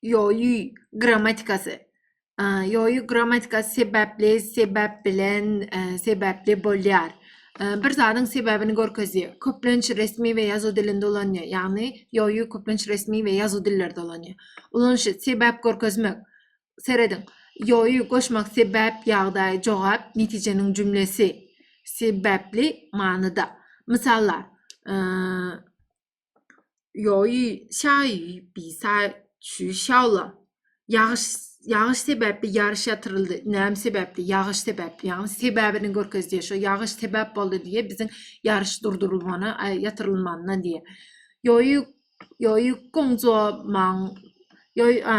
ýoýy grammatikasy ýoýy grammatikasy sebäpli sebäp bilen sebäpli bolýar bir zadyň sebäbini görkezýär köplenç resmi we ýazuw dilinde ulanýar ýagny ýoýy köplenç resmi we ýazuw dillerde ulanýar ulanyşy sebäp görkezmek serediň ýoýy goşmak sebäp ýagdaý jogap netijeniň jümlesi sebäpli manyda mysallar Ýoý, şaý, bisa, çü, şawla. Ýagyş, ýagyş sebäpli ýaryş ýatyryldy. Näme sebäpli? Ýagyş sebäpli. Ýagny sebäbini görkezýär. Şo ýagyş sebäp boldy diýe biziň ýaryş durdurylmana, ýatyrylmanyna diýe. Ýoý, ýoý, gonja, maň, ýoý, a,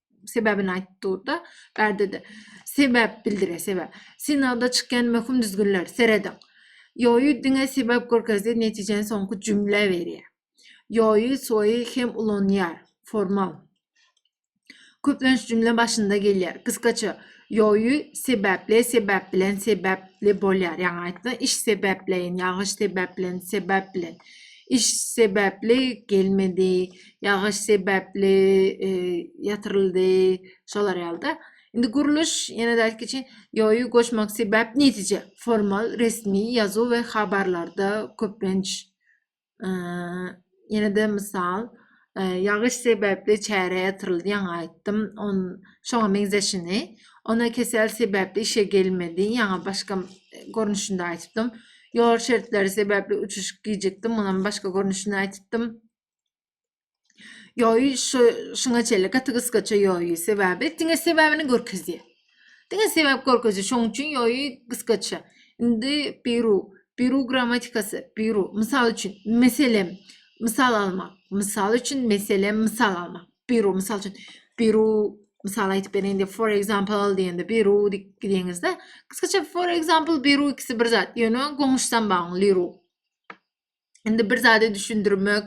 sebäbini aýdyp durda, bärdede. Sebäp bildire, sebäp. Synagda çykýan möhüm düzgünler, serediň. Ýoýy diňe sebäp görkezdi, netijäni soňky jümlä berýär. Ýoýy, soýy hem ulanýar, formal. Köplenç jümle başynda gelýär. Gysgaça, ýoýy sebäpli, sebäp bilen, sebäpli bolýar. Ýaňy aýtdy, iş sebäpleýin, ýagyş sebäp bilen, sebäp bilen. Iş sebäpli gelmedi, Ýagyş sebäpli ýatyryldy, şolar ýalyda. Indi gurluş ýene dälki üçin ýoýy goşmak sebäp netije formal resmi ýazuw we habarlarda köplenç ýene-de mysal ýagyş sebäpli çäre ýatyryldy ýaňy aýtdym on şoňa meňzeşini ona kesel sebäpli işe gelmedi ýaňy başga görnüşinde aýtypdym ýol şertleri sebäpli uçuş gijikdi munam başga görnüşinde aýtypdym Ýoý, şu şuňa çenli gaty gysgaça ýoý, sebäbi diňe sebäbini görkezýär. Diňe sebäp görkezýär, şoň üçin ýoý gysgaça. Indi biru, biru grammatikasy, biru. Mysal üçin, meselem, mysal almak. Mysal üçin, meselem, mysal almak. Biru, mysal üçin, biru mysal aýdyp bereýin for example diýende biru diýip gidiňizde, gysgaça for example biru ikisi bir zat, ýöne goňuşdan bagyň liru. Indi bir zady düşündirmek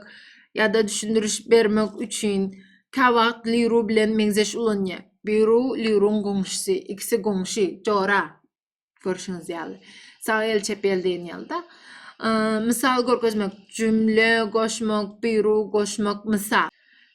ýa-da düşündiriş bermek üçin kä wagt Liru bilen meňzeş ulanýar. Biru Liruň goňşusy, ikisi goňşy, jora. Görşüňiz ýaly. Sag el, çep el diýen ýaly-da. Mysal görkezmek, jümle goşmak, biru goşmak, mysal.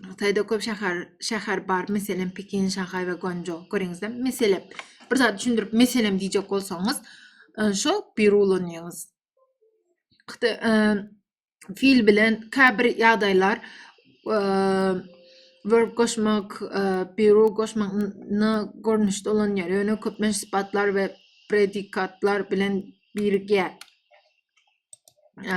Hytaýda köp şäher şäher bar, meselem Pekin, Şanhaý we Guanzhou. Göreňizde, meselem bir zat düşündirip meselem diýjek bolsaňyz, şo bir ulanýaňyz. Hytaý e, fil bilen käbir ýagdaýlar e, verb goşmak, e, biru goşmak na görnüşde ulanýar. Ýöne köpmen sypatlar we predikatlar bilen birge. E,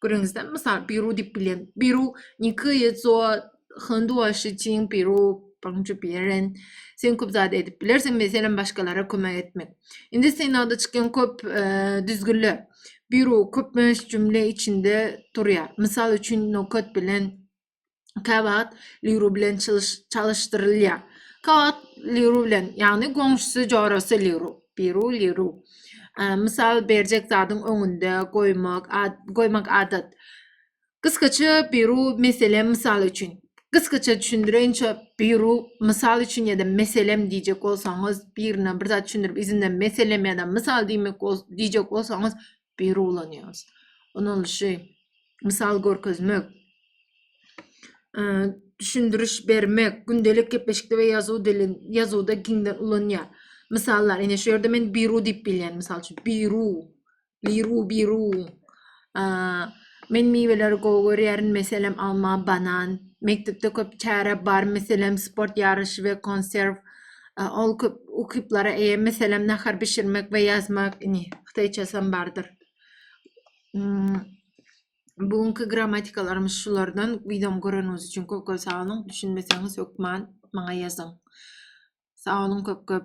Görüňizde, mysal, Peru diýip bilen. Peru nikýe zo hondua şiçiň Peru paňçy bilen. Sen köp zat edip bilersiň, meselem, başgalara kömek etmek. Indi synagda çykýan köp düzgünler. Peru köp möhüm cümle içinde durýar. Mysal üçin, nokat bilen Käwagt Liru bilen çalyşdyrylýar. Käwagt Liru bilen, ýagny goňşusy jorasy Liru, Biru Liru. Mysal berjek zadyň öňünde goýmak, goýmak adat. Gysgaça Biru meselem mysal üçin. Gysgaça düşündireýinçe Biru mysal üçin ýa-da meselem diýjek bolsaňyz, birine bir zat düşündirip, izinden meselem ýa-da mysal diýmek diýjek bolsaňyz, biri ulanýarys. Unalyşy, mysal görkezmek, düşündiriş bermek, gündelik gepleşikde we ýazuw dili, ýazuwda giňden ulanýar. Mysallar, ine şu ýerde men biru diýip bilýän, mysal üçin, biru, liru, biru. Men miweleri gowy görýärin meselem alma banan mekdepde köp çäre bar meselem sport ýaryşy we konserw ol köp ukyplara eýe meselem nahar bişirmek we ýazmak ini hytaýçasam bardyr bu günki grammatikalarymyz şulardan wideomy göreniňiz üçin köp köp sag boluň düşünmeseňiz hökman maňa ýazyň sag boluň köp köp